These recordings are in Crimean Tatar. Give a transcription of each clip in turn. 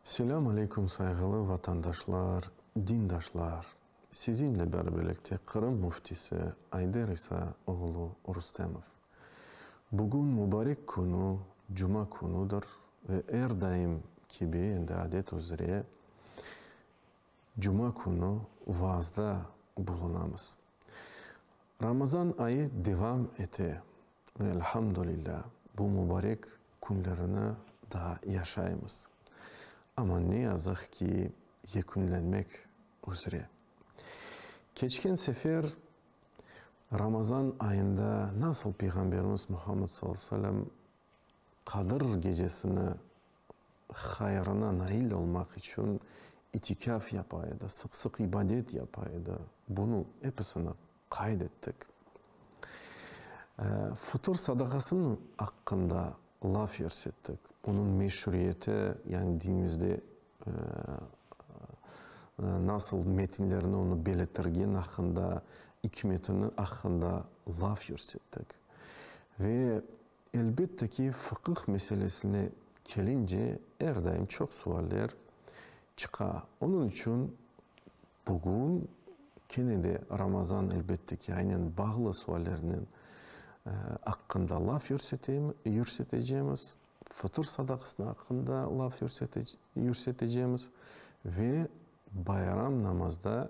Selâm aleyküm sayğılı vatandaşlar, dindaşlar! Sizinle beraberlikte Qırım Müftisi Ayder İsa oğlu Rustemov. Bugün mübarek künü, Cuma künüdir ve er daim kibi, endi adet üzre, Cuma künü vaazda bulunamız. Ramazan ayı devam ete ve elhamdülillâ, bu mubarek künlerini daa yaşaymız. Amma ne yazıq ki, yekünlenmek üzre. Keçken sefer Ramazan ayında nasıl Peyğamberimiz Muhammed sallallahu aleyhi ve sellem Qadır gecesini hayırına nail olmaq içün itikâf yapa edi, sıq-sıq ibadet yapa edi. Bunıñ episini qayd ettik. Fıtır sadaqasınıñ aqqında laf yürsettik, onıñ meşruyeti, yani dinimizde nasıl metinlerni onı belirtirgeni aqqında, ikmetini aqqında laf yürsettik. Ve Elbette ki, fıqıh meselesine kelince, er daim çoq sualler çıqa. Onıñ içün bugün kene de Ramazan, elbette ki, aynen bağlı suallernen aqqında laf yürseteceğimiz, fıtır sadaqasına aqqında laf yürseteceğimiz ve bayram namazda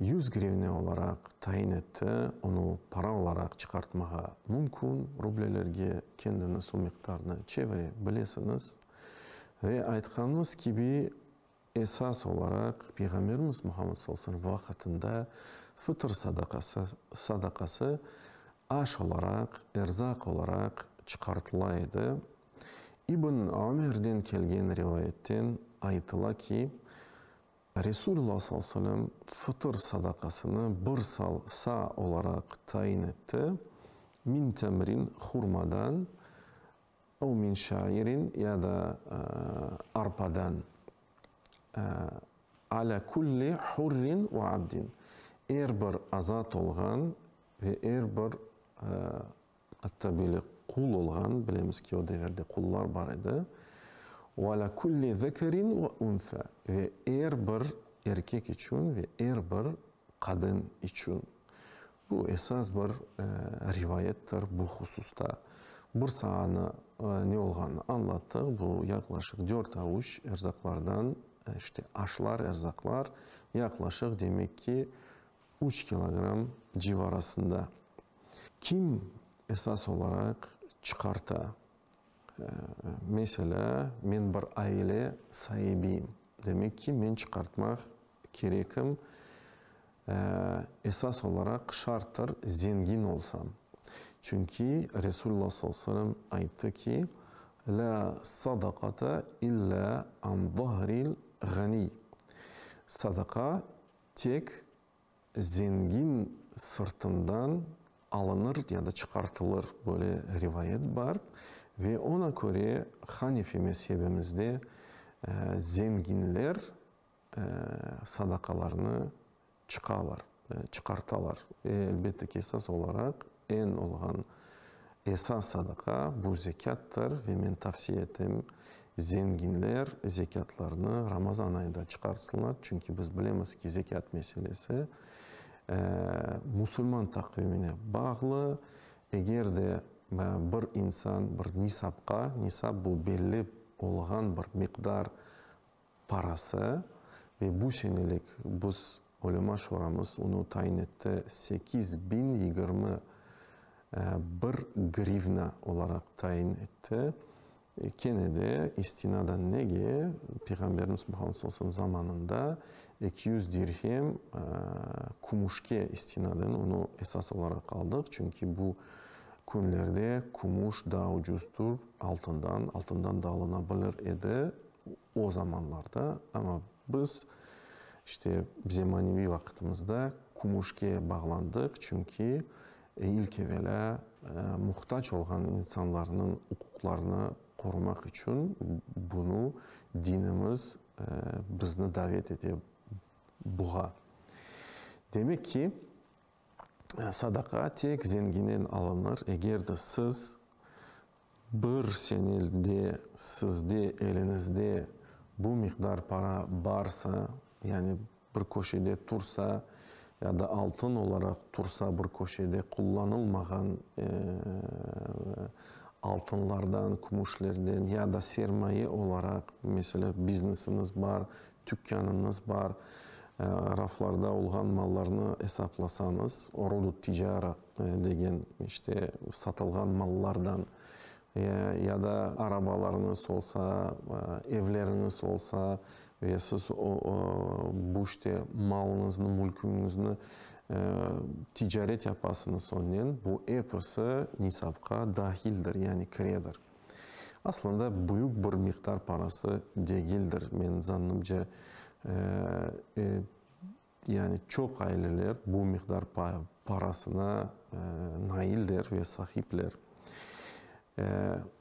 yüz grivne olaraq tayin etti, onı para olaraq çıqartmağa mümkün, rublelerge kendiñiz o miqdarnı çevire bilesiñiz. Ve aytqanımız kibi, esas olaraq Peyğamberimiz Muhammed sallallahu aleyhi ve sellem vaqtında fıtır sadaqası, sadaqası aş olaraq, erzaq olaraq çıqartıla edi. İbn Ömerden kelgen rivayetten aytıla ki, Resulullah sallallahu aleyhi ve sellem fıtır sadaqasını bir sal, sa, olaraq tayin etti, min temrin, hurmadan, ev min şairin, ya da arpadan, alâ kulli hurrin ve abdin, er bir azat olğan ve er bir Atta böyle qul olğan, bilemiz ki, o devirde qullar bar edi. Ve alâ kulli zekerin ve untâ, ve er bir erkek içün ve er bir qadın içün. Bu esas bir rivayettir bu hususta. Bir saanı ne olğanını añlattıq, bu yaqlaşıq dört avuç erzaqlardan, işte aşlar, erzaqlar, yaqlaşıq, demek ki, üç kilogramm civarasında. Kim esas olaraq çıqarta? Meselâ, men bir aile saibiyim, demek ki, men çıqartmaq kerekim. Esas olaraq şarttır zengin olsam. Çünki Resulullah sallallahu aleyhi ve selem ayttı ki, Lâ sadaqata illâ an zahril ğaniy, Sadaqa Tek zengin sırtından alınır ya da çıqartılır, böyle rivayet bar, ve oña köre Hanefi mezhebimizde zenginler sadaqalarını çıqalar, çıqartalar. Elbette ki, esas olaraq, Eñ olğan esas sadaqa, bu zekâttır ve men tavsiye etem, zenginler zekâtlarını Ramazan ayında çıqarsınlar, çünki biz bilemiz ki, zekât meselesi musulman taqvimine bağlı, eger de bir insan bir nisabqa, nisab bu belli olğan bir miqdar, parası ve bu senelik biz, Ulema Şuramız onı tayin etti, sekiz biñ yigirmi bir grivna olaraq tayin etti. Kene de istinadan nege Peyğamberimiz Muhammed sallallahu aleyhi ve sellem zamanında eki yüz dirhem kümüşke istinaden onı esas olaraq aldıq, çünki bu künlerde kümüş daa ucuzdır altından, altından da alına bilir edi, O zamanlarda, amma biz, işte, bize maneviy vaqıtımızda kümüşke bağlandıq, çünki ilk evelâ muhtac olğan insanlarnıñ uquqlarını qorumaq içün bunı dinimiz bizni davet ete buğa. Demek ki, sadaqa tek zenginen alınır, eger de siz Bir senelde sizde eliñizde bu miqdar para barsa, yani bir köşede tursa, ya da altın olaraq tursa bir köşede qullanılmağan altınlardan, kümüşlerden, ya da sermaye olaraq, meselâ, biznesiñiz bar, Tükkanıñız bar, raflarda olğan mallarnı esaplasañız, orodu ticara degen, işte, satılğan mallardan, ya da arabalarıñız olsa, evleriñiz olsa ve siz bu işte malıñıznı, mülküñizni ticaret yapasıñız onnen, bu episi nisapqa dahildir, yani kiredir. Aslında büyük bir miqdar parası degildir. Menim zannımca, yani çoq aileler bu miqdar parasına nailler ve sahipler.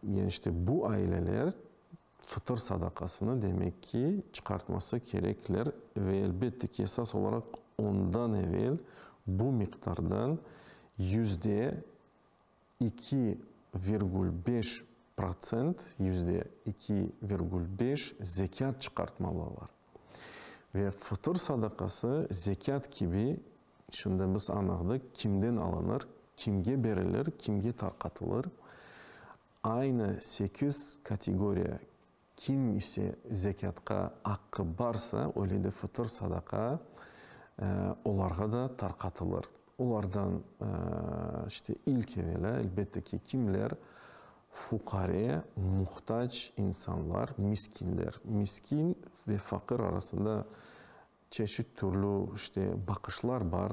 Yani işte bu aileler fıtır sadaqasını demek ki çıqartması kerekler ve elbette ki esas olaraq ondan evel bu miqdardan yüzde İki virgül beş protsent, yüzde iki virgül beş, zekât çıqartmalılar. Ve fıtır sadaqası zekât kibi, şimdi biz anıqdık, kimden alınır, kimge berilir, kimge tarqatılır, aynı sekiz kategoriya, Kim ise zekâtqa aqqı barsa, öyle de fıtır, sadaqa, olarğa da tarqatılır. Olardan, işte, ilk evelâ, elbette ki, kimler? Fuqare, muhtac insanlar, miskinler. Miskin ve faqir arasında Çeşit türlü işte baqışlar bar,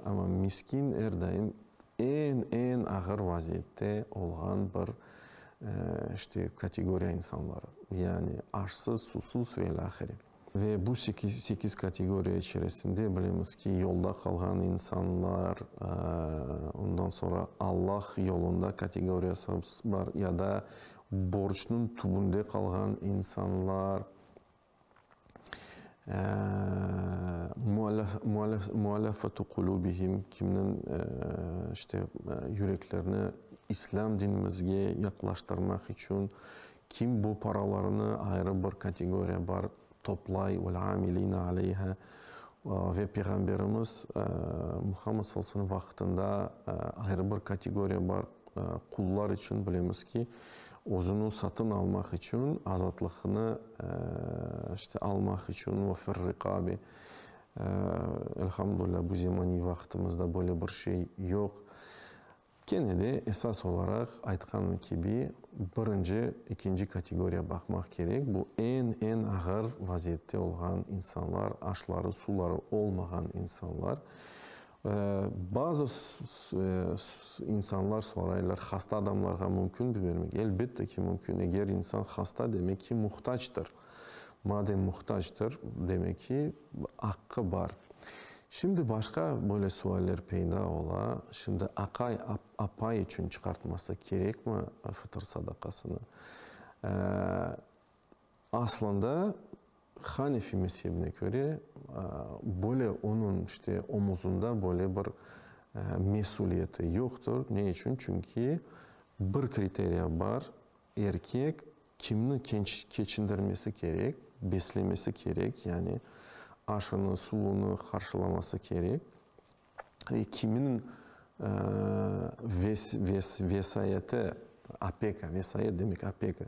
amma miskin er daim eñ-eñ ağır vaziyette olğan bir işte kategoriya insanları, yani aşsız, susuz ve ilâ ahire. Ve bu sekiz kategoriya içerisinde bilemiz ki, yolda qalğan insanlar, ondan soñra Allah yolunda kategoriyası bar ya da borçnıñ tübünde qalğan insanlar, Mualâfatu qulûbihim, kimniñ işte yüreklerini İslâm dinimizge yaqlaştırmaq içün, kim bu paralarını, ayrı bir kategoriya bar, toplay, vel amilina aleyha, ve Peyğamberimiz Muhammed sallallahu aleyhi ve selem vaqtında ayrı bir kategoriya bar, qullar içün, bilemiz ki, Özüni satın almaq içün, azatlığını işte almaq içün, ve fir riqabi, elhamdulilâ, bu zemaniy vaqıtımızda böyle bir şey yoq. Kene de, esas olaraq, aytqanım kibi, birinci, ikinci kategoriya baqmaq kerek, bu eñ, eñ ağır vaziyette olğan insanlar, aşları, suları olmağan insanlar. Bazı insanlar soraylar, hasta adamlarğa mümkünmi bermek? Elbette ki, mümkün. Eger insan hasta, demek ki, muhtactır. Madem muhtactır, demek ki, aqqı bar. Şimdi başqa böyle sualler peyda ola, şimdi aqay, apay içün çıqartması kerekmi fıtır sadaqasını? Aslında, Hanefi mezhebine köre, böyle onıñ işte omuzında böyle bir mesüliyeti yoqtır. Ne içün? Çünki bir kriteriya bar, erkek kimni keçindirmesi kerek, beslemesi kerek, yani aşını, suvunı qarşılaması kerek. ve kiminiñ vesayeti, opeka, vesayet demek opeka,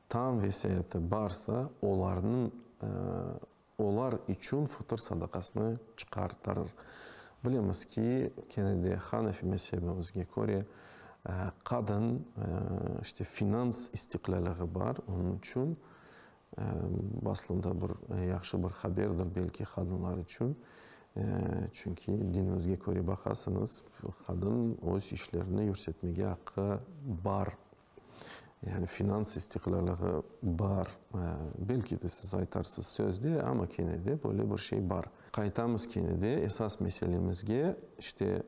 tam vesayeti barsa, olarnıñ, olar içün fıtır sadaqasını çıqartırır. Bilemiz ki, kene de Hanefi mezhebimizge köre, qadın, işte, finans istiqlâligi bar, onıñ içün Aslında bir yahşı bir haberdir belki qadınlar içün. Çünki dinimizge köre baqasıñız, qadın öz işlerini yürsetmege aqqı bar. Yani finans istiqlallığı bar. Belki de siz aytarsız sözde, amma kene de böyle bir şey bar. Qaytamız kene de esas meselemizge, işte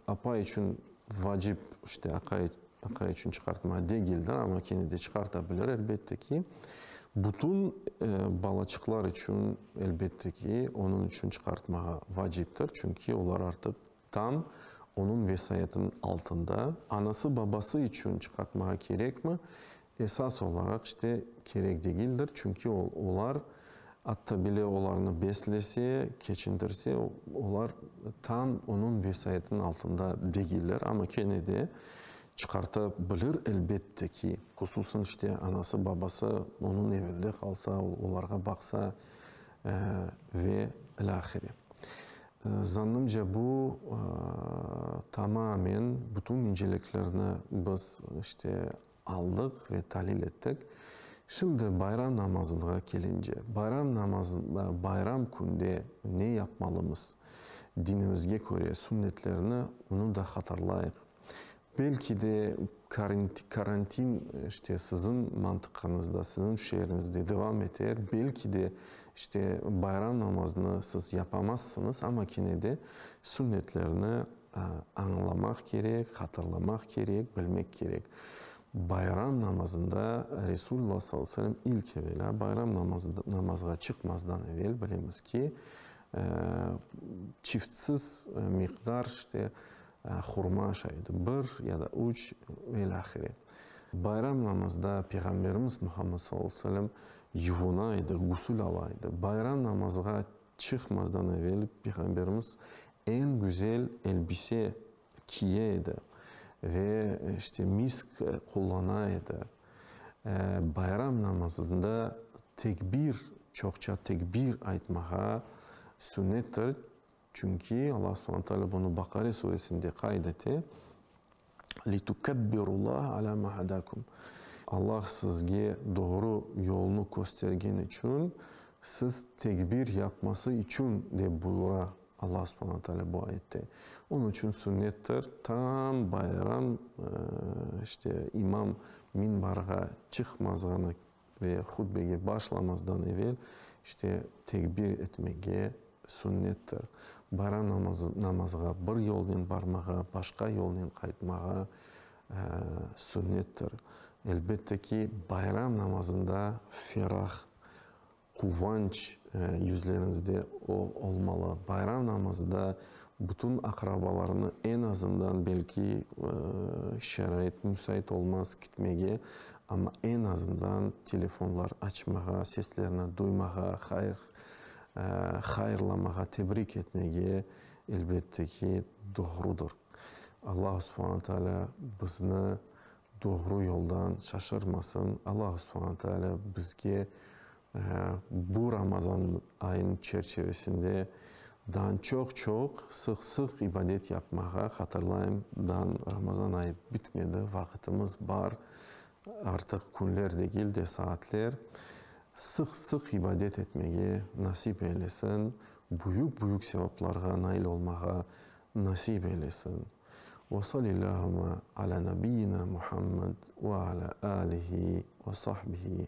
apa içün vacip, işte aqay, Aqay içün çıqartma degildir, amma kene de çıqarta bilir, elbette ki. Bütün balaçıqlar içün, elbette ki, onıñ içün çıqartma vaciptir, çünki olar artıq tam onıñ vesayetiniñ altında. Anası-babası içün çıqartma kerekmi? Esas olaraq işte kerek degildir, çünki olar, atta bile olarnı beslese, keçindirse, olar tam onıñ vesayetiniñ altında degiller, amma kene de çıqarta bilir, elbette ki. Hususan işte anası, babası onıñ evinde qalsa, olarğa baqsa ve ilâhre. Zannımca bu tamamen bütün inceliklerni biz işte aldıq ve talim ettik. Şimdi bayram namazınğa kelince, bayram namazında, bayram künde ne yapmalımız? Dinimizge köre sünnetlerni onı da hatırlayıq. Belki de karint, karantin işte siziñ mantıqañızda, siziñ şeeriñizde devam eter, belki de işte bayram namazını siz yapamazsıñız, amma kene de sünnetlerni Añlamaq kerek, hatırlamaq kerek, bilmek kerek. Bayram namazında Resulullah sallallahu aleyhi ve sellem ilk evelâ bayram namazında namazğa çıqmazdan evel bilemiz ki, çiftsiz miqdar işte hurma aşay edi, bir ya da üç ve ilâhre. Bayram namazda Peyğamberimiz Muhammed sallallahu aleyhi ve sellem yuvuna edi, ğusül ala edi. Bayram namazğa Çıqmazdan evel Peyğamberimiz eñ güzel elbise kiye edi ve işte misk qullana edi. Bayram namazında tekbir, çoqça tekbir aytmağa sünnettir, çünki Alla subhane taala bunı Bakare suresinde qayd ete, Litukebbirullâhe alâ mâ hadâkum. Alla sizge doğru yolnı köstergeni içün, siz tekbir yapması içün, dep buyura Alla subhana taalâ bu ayette. Onıñ içün sünnettir, tam bayram, işte, imam minbarğa çıqmazğanı ve hutbege başlamazdan evel işte tekbir etmege, sünnettir, baran namazğa bir yolnen barmağa, başqa yolnen qaytmağa sünnettir. Elbette ki, bayram namazında ferah, quvanç yüzlerinizde o olmalı. Bayram namazıda bütün aqrabalarını en azından belki şarait müsait olmaz kitmege, Amma eñ azından telefonlar açmağa, seslerini duymağa, hayır hayırlamağa, tebrik etmege, elbette ki, doğrudır. Allahu subhana taalâ bizni doğru yoldan şaşırmasın. Allahu subhana taalâ bizge Bu Ramazan ayınıñ çerçivesinde dan çoq-çoq, sıq-sıq ibadet yapmağa, hatırlayım, dan Ramazan ayı bitmedi, vaqıtımız bar, artıq künler degil de, saatler, sıq-sıq ibadet etmege nasip eylesin, büyük-büyük sevaplarğa nail olmağa nasip eylesin. Ve salillâhümme alâ nabiyyina Muhammed ve alâ âlihi ve sahbihi